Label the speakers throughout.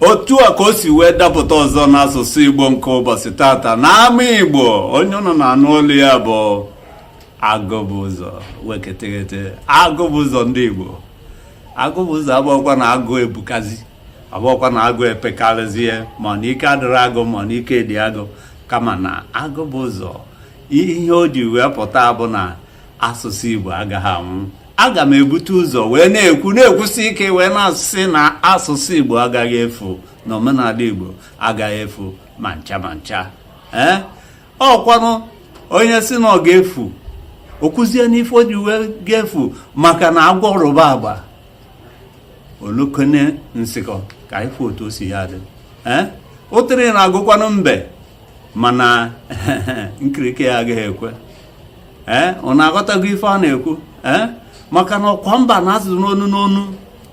Speaker 1: otu a
Speaker 2: ka o si wee dapụta ọzọ n'asụsụ igbo nke ụbọchị tata na ama igbo onye unu na-anụ olu ya bụ agụbụzọ weketeghete agụbụzọ ndị igbo agụbụzọ abụọkwa na agụ ebukazi abụọkwa na agụ epekarịzie mana ike adịrọ agụ mana ike dị agụ kama na agụbụzọ ihe o ji wee pụta bụ na asụsụ igbo agaghị anwụ aga m ebute ụzọ wee na-ekwu na-ekwusi ike wee na-asị na asụsụ igbo agaghị efu na omenala igbo agaghị efu ma ncha ma ncha ee eh? ọkwanụ onye sị na ọ ga-efu o kwuzie n'ife o ji wee ga-efu maka na agwọ rụba agba o lokene nsịkọ ka ị fụ otu o si ya adị ee eh? ụtịrị na-agụkwanụ mbe mana nkirike ya agaghị ekwe ee eh, unu aghọtago ife a na-ekwu ee eh, maka na ọkwa mba na-asụ n'onu n'onu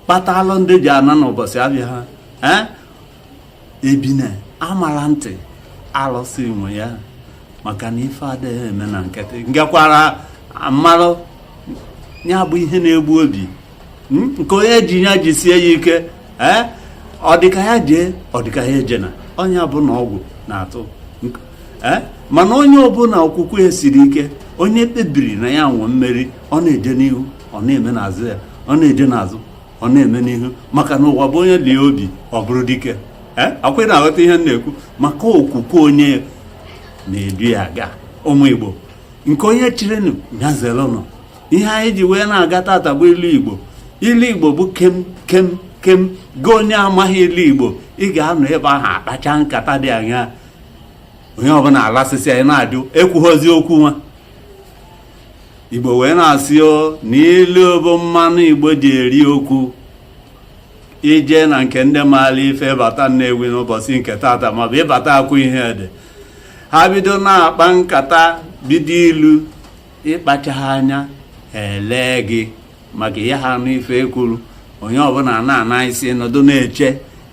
Speaker 2: kpatalụ ndị ji ana n'ụbọchị abịa ha ee eh, ebine a mara ntị alụsị nwe ya maka na ife adịghị eme na nkịtị ngekwara m malụ ya bụ ihe na-egbu ebi hmm? nke onye ji ya jisie ya ike ee eh? ọ dịka ya jee ọ dịka ya ejena onye bụ na ọgwụ na-atụ ee eh? mana onye ọbụla okwukwe ya siri ike onye kpebiri na ya nwee mmeri ọ na-eje n'ihu ọ na-eme n'azụ ya ọ na-eje n'azụ ọ na-eme n'ihu maka na ụwa bụ onye lie obi ọ bụrụ dike eh? ọkwa ị na-aghọta ihe m na-ekwu maka okwukwe onye na-edu ya aga ụmụ igbo nke onye chirinụ ya zerenụ ihe anyị ji wee na-aga tata bụ ilu igbo ilu igbo bụ kem kem kem gị onye amaghị ilu igbo ị ga-anọ ebe ahụ a kpachaa nkata dị anya onye ọbụla alasịsịa ị na-ajụ ekwughọzi okwu nwa igbo wee na-asị o na ilu bụ mmanụ igbo ji eri okwu i jee na nke ndị maara ife bata nnewi n'ụbọchị nke tata maọbụ ị bata akwaihedi ha bido na-akpa nkata bido ilu ị kpachaghị anya e lee gị maka ị yaha anụ ife e kwuru onye ọbụla na-ana isi nọdụ na-eche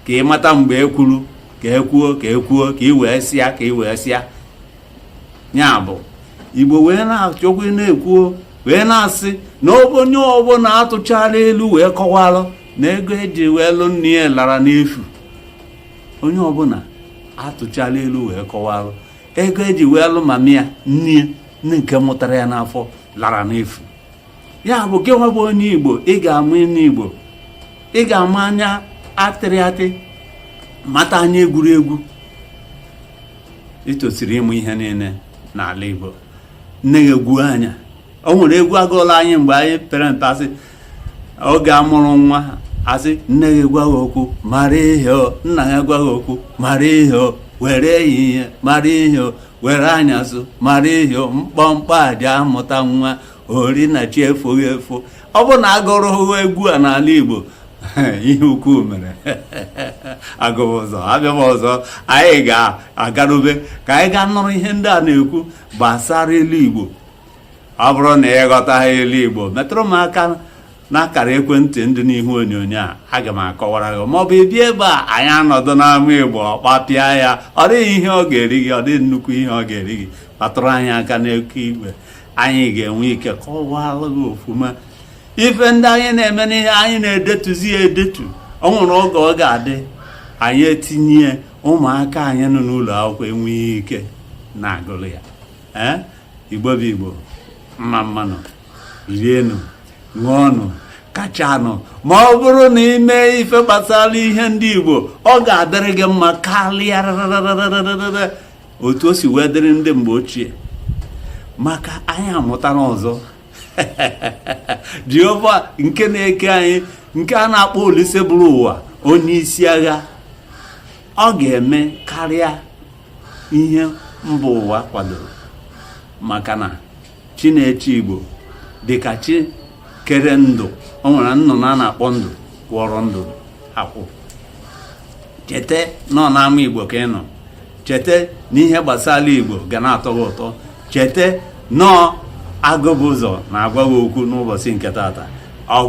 Speaker 2: ka ị mata mgbe e kwuru ka e kwuo ka e kwuo ka ị wee sịa ka ị wee sịa ya bụ igbo wee na-achọkwa na-ekwuo wee na-asị na onye ọbụla a tụchara ilu wee kọwalụ na ego e ji wee lụ nne ya lara n'efu onye ọbụla a tụchara ilu wee kọwalụ ego e ji wee lụ mama ya nne ya nne nke mụtara ya n'afọ lara n'efu ya bụ gị nwa bụ onye igbo ị ga-ama inu igbo ị ga-ama anya a tịrị atị mata anya e gwuru egwu i tosiri ịmụ ihe niile n'ala igbo nne ya egwu anya o nwere egwu a gụọlụ anyị mgbe anyị pere mpe a sị oge a mụrụ nwa a sị nne gị gwa gị okwu mara ihe o nna gị gwa gị okwu mara ihe o were ehihie mara ihe o were anyasụ mara ihe o mkpọmkpọ aja amụta nwa ori na chi efoghị efo ọ bụrụ na a gụrụ egwu a n'ala igbo ihe ukwu mere agụ bụ ụzọ abịa m ọzọ anyị ga-agarube ka anyị gaa nụrụ ihe ndị a na-ekwu gbasara ilu igbo ọ bụrụ na ị ghọtaghị ilu igbo metụrụ m aka n'akara ekwentị ndị n'ihu onyonyo a aga m akọwara gị maọbụ ị bịa ebe a anyị anọdụ n'ama igbo kpapịa ya ọ dịghị ihe ọ ga-eri gị ọ dịghị nnukwu ihe ọ ga-eri gị kpatụrụ anyị aka n'eke igwe anyị ga-enwe ike kọwalụ gị ofuma ife ndị anyị na-eme n'ihe anyị na-edetuzi ya edetu ọ nwere oge ọ ga-adị anyị etinye ụmụaka anyị nọ n'ụlọ akwụkwọ enwee ike na-agụrụ ya ee igbo bụ igbo mma mmanụ rienụ ṅụọnụ kachanụ ma ọ bụrụ na ị mee ife gbasara ihe ndị igbo ọ ga-adịrị gị mma karịa otu o si wee dịrị ndị mgbe ochie maka anyị amụtara ọzọ jehova nke na-eke anyị nke a na-akpọ olise buru ụwa onye isi agha ọ ga-eme karịa ihe mba ụwa kwadoro maka na chi na-eche igbo dịka chi kere ndụ o nwere nnụnụ a na-akpọ ndụ kwọrọ ndụ akwụ cheta na ọ n'ama igbo ka ị nọ cheta na ihe gbasara igbo ga na-atọ gị ụtọ cheta na ọ agụ bụ ụzọ na-agwa gị okwu n'ụbọchị nke tata